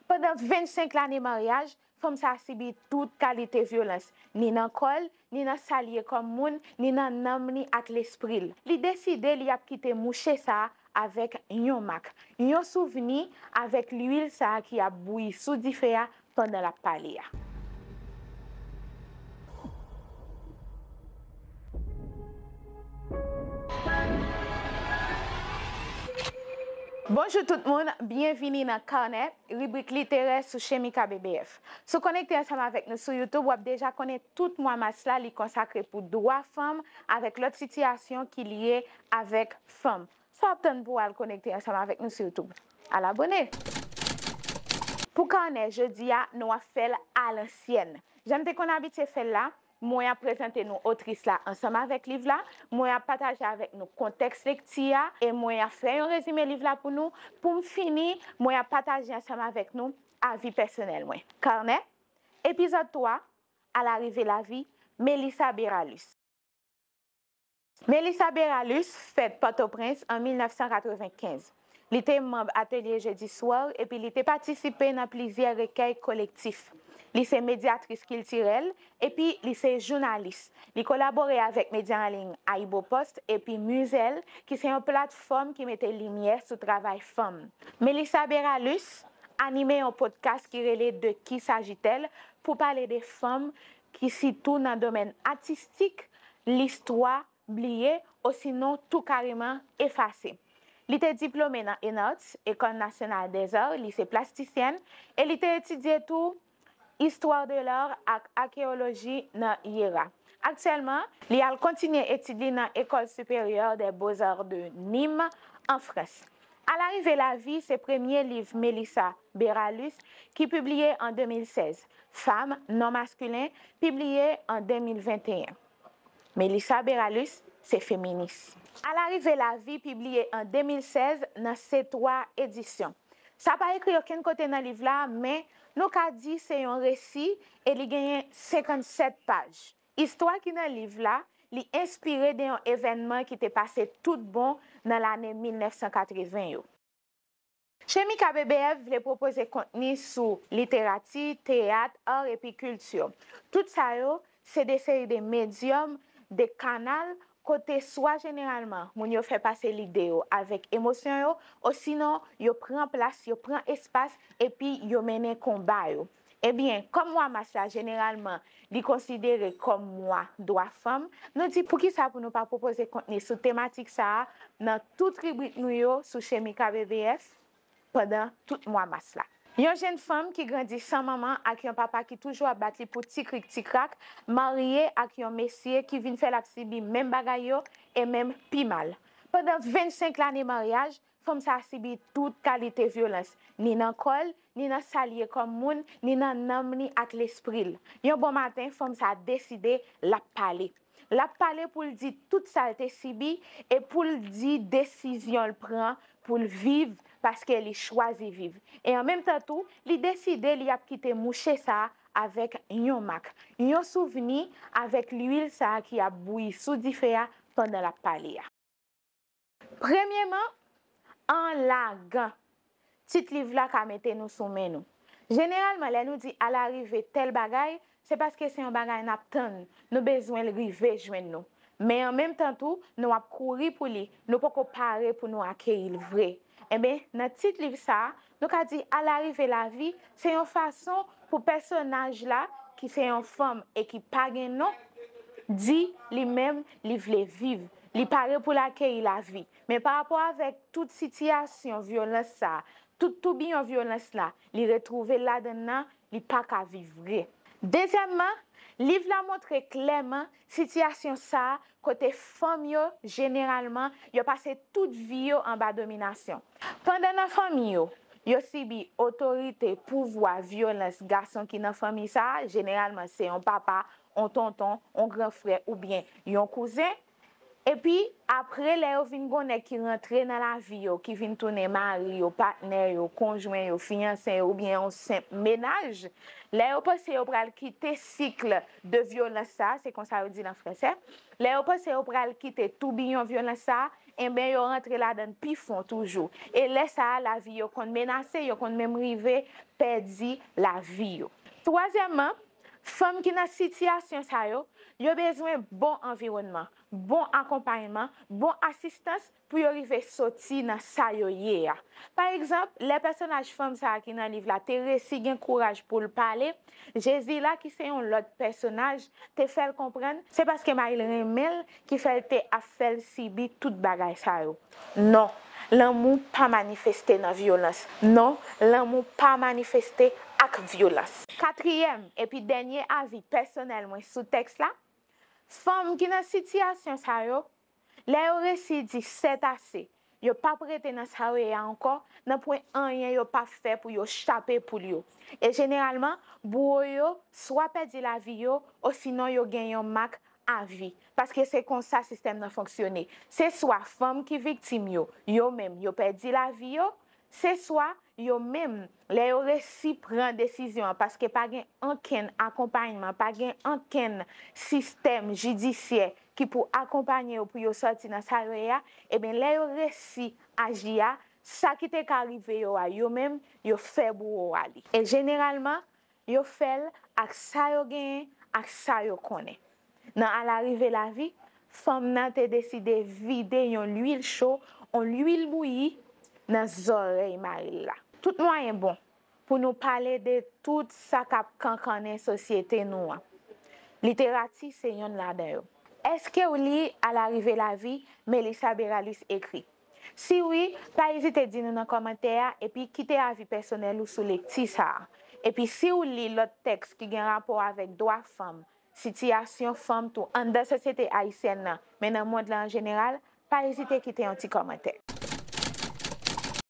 Pandan 25 lane maryaj, fanm sa sibi tout kalite vyolans, ni nan kò l, ni nan sa l ye kòm moun, ni nan nanm li ak lespri l. Li deside li ap kite mouche sa avèk yon mak, yon souvni avèk luil sa ki ap bouyi sou dife a pandan l ap pale a. Bonjou tout moun, byenvini nan Kanè, ribrik literè sou Chemika BBF. Si w konekte ansanm avèk nou sou YouTube, w ap deja konnen tout mwa mas la li konsakre pou dwa fanm avèk lòt sitiyasyon ki lye avèk fanm. Sa w ap tann pou w al konekte ansanm avèk nou sou YouTube? Al abone! Pou Kanè jodi a, nou ap fè l alansyèn. Jan n te konn abitye fè l la, Mwen ap prezante nou otris la ansanm avèk liv la, mwen ap pataje avèk nou kontèks lekti a e mwen ap fè yon rezime liv la pou nou. Pou m fini, mwen ap pataje ansanm avèk nou avi pèsonèl mwen. Carnet, Epizòd 3, A la rive lavi, Melissa Beralus. Melissa Beralus fèt Pòtoprens an 1995. Li te manb Atelier Jeudi Soir epi li te patisipe nan plizyè rekèy kolektif. Li se medyatris kiltirèl epi li se jounalis. Li kolabore avèk medya anliy AyiboPost epi Muzel ki se yon platfòm ki mete limyè sou travay fanm. Melissa Beralus anime yon podcast ki rele De Qui S'agit-elle? pou pale de fanm ki sitou nan domèn atistik, listwa, bliye osinon tou kareman efase. Li te diplome nan ENARTS, Ecole Nationale des Arts, Lycée Plasticien, e li te etidye tou Histoire de l'Art ak Akeyoloji nan IERA. Aktyèlman, li al kontinye etid li nan Ecole Supérieure des Beaux-Arts de Nîmes, an Frans. Alarive lavi se premye liv Melissa Beralus, ki pibliye an 2016, Fam, Non Maskilen, pibliye an 2021. Melissa Beralus se feminis. A la rive lavi pibliye an 2016 nan Setwa Edisyon. Sa pa ekri okenn kote nan liv la men nou ka di se yon resi e li genyen 57 paj. Istwa ki nan liv la li enspire de yon evènman ki te pase tout bon nan lane 1980 yo. Chemika BBF vle pwopoze kontni sou literati, teyat, ar epi kilti. Tout sa yo, se de seri de medyòm, de kanal, kote swa jeneralman moun yo fè pase lide yo avèk emosyon yo, osinon yo pran plas, yo pran espas epi yo mennen konba yo. Ebyen, kòm mwa mas la jeneralman li konsidere kòm mwa dwa fanm, nou di poukisa pou nou pa pwopoze kontni sou tematik sa a nan tout ribrik nou yo sou Chemika BVF pandan tout mwa mas la. Yon jenn fanm ki grandi san manman ak yon papa ki toujou ap bat li pou ti krik ti krak marye ak yon mesye ki vin fè l ap sibi menm bagay yo e menm pi mal. Pandan 25 lane maryaj, Fanm sa a sibi tout kalite vyolans, ni nan kò l, ni nan sa l ye kòm moun, ni nan nanm li ak lespri l. Yon bon maten, fanm sa a deside l ap pale. L ap pale pou l di tout sa l te sibi e pou l di desizyon l pran pou l viv paske li chwazi viv. E an menm tan tou, li deside li ap kite mouche sa a avèk yon mak, yon souvni avèk luil sa a ki ap bouyi sou dife a pandan l ap pale a. Premyeman, an lagan tit liv la ka mete nou sou men nou. Jeneralman lè nou di alarive tèl bagay, se paske se yon bagay n ap tann, nou bezwen l rive jwenn nou. Men an menm tan tou, nou ap kouri pou li, nou poko pare pou nou akeyi l vre. Enben, nan tit liv sa a, Nou ka di alarive lavi se yon fason pou pèsonaj la ki se yon fanm e ki pa gen non di li menm li vle viv, li pare pou l akeyi lavi. Men pa rapò avèk tout sitiyasyon vyolans sa, tout toubiyon vyolans la, li retwouve l ladann nan, li pa ka viv vre. Dezyèmman, liv la montre klèman Sitiyasyon sa a, kote fanm yo, jeneralman, yo pase tout vi yo anba dominasyon. Pandan nan fanmi yo, yo sibi otorite, pouvwa, vyolans gason ki nan fanmi sa a, jeneralman se yon papa, yon tonton, yon gran frè oubyen yon kouzen, Epi, apre, lè yo vin gon nèg ki rantre nan lavi yo, ki vin tounen mari yo, patnè yo, konjwen yo, fiyanse yo oubyen yon senp mennaj, lè yo panse yo pral kite cycle de violence sa, se konsa yo di l an fransè, lè yo panse yo pral kite toubiyon vyolans sa, enben yo rantre ladan l pi fon toujou. E lè sa a, lavi yo konn menase, yo konn menm rive pèdi lavi yo. Twazyèmman, Fanm ki nan sitiyasyon sa yo, yo bezwen bon anviwònman, bon akonpayman, bon asistans pou yo rive soti nan sa yo ye a. Pa egzanp, lè pèsonaj fanm sa a ki nan liv la te resi gen kouraj pou l pale, Jezila ki se yon lòt pèsonaj te fè l konprann, se paske Mayil renmen l Ki fè l te ap fè l sibi tout bagay sa yo. Non, lanmou pa manifeste nan vyolans. Non, lanmou pa manifeste ak vyolans. Katriyèm epi dènye avi pèsonèl mwen sou tèks la, Fanm ki nan sitiyasyon sa yo, lè yo resi di sètase, Yo pap rete nan sa yo ye a ankò, nanpwen anyen yo pa fè pou yo chape poul yo. E jeneralman, bouwo yo swa pèdi lavi yo osinon yo gen yon mak avi. Paske se konsa sistèm nan fonksyone. Se swa fanm ki viktim yo, yo menm yo pèdi lavi yo, Se swa, yo menm, lè yo resi pran desizyon an paske pa gen ankenn akonpayman, pa gen ankenn sistèm jidisyè ki pou akonpanye yo pou yo sòti nan sa yo ye a, eben lè yo resi aji a, sa ki te ka rive yo a, yo menm, yo fè bouwo a li. E jeneralman, Yo fè l ak sa yo genyen, ak sa yo konnen. Nan alarive lavi, fanm nan te deside vide yon luil cho, on luil bouyi, nan zòrèy mari l la. Tout mwayen bon pou nou pale de tout sa k ap kankannen sosyete nou an. Literati se yonn ladan yo. Èske w li Alarive lavi, Melissa Béralus ekri? Si wi, pa ezite di nou nan kòmantè a epi kite avi pèsonèl ou sou lekti sa a. Epi si w li lòt tèks ki gen rapò avèk dwa fanm, sitiyasyon fanm tou anndan sosyete ayisyèn nan men nan mond lan an jeneral, pa ezite kite yon ti kòmantè.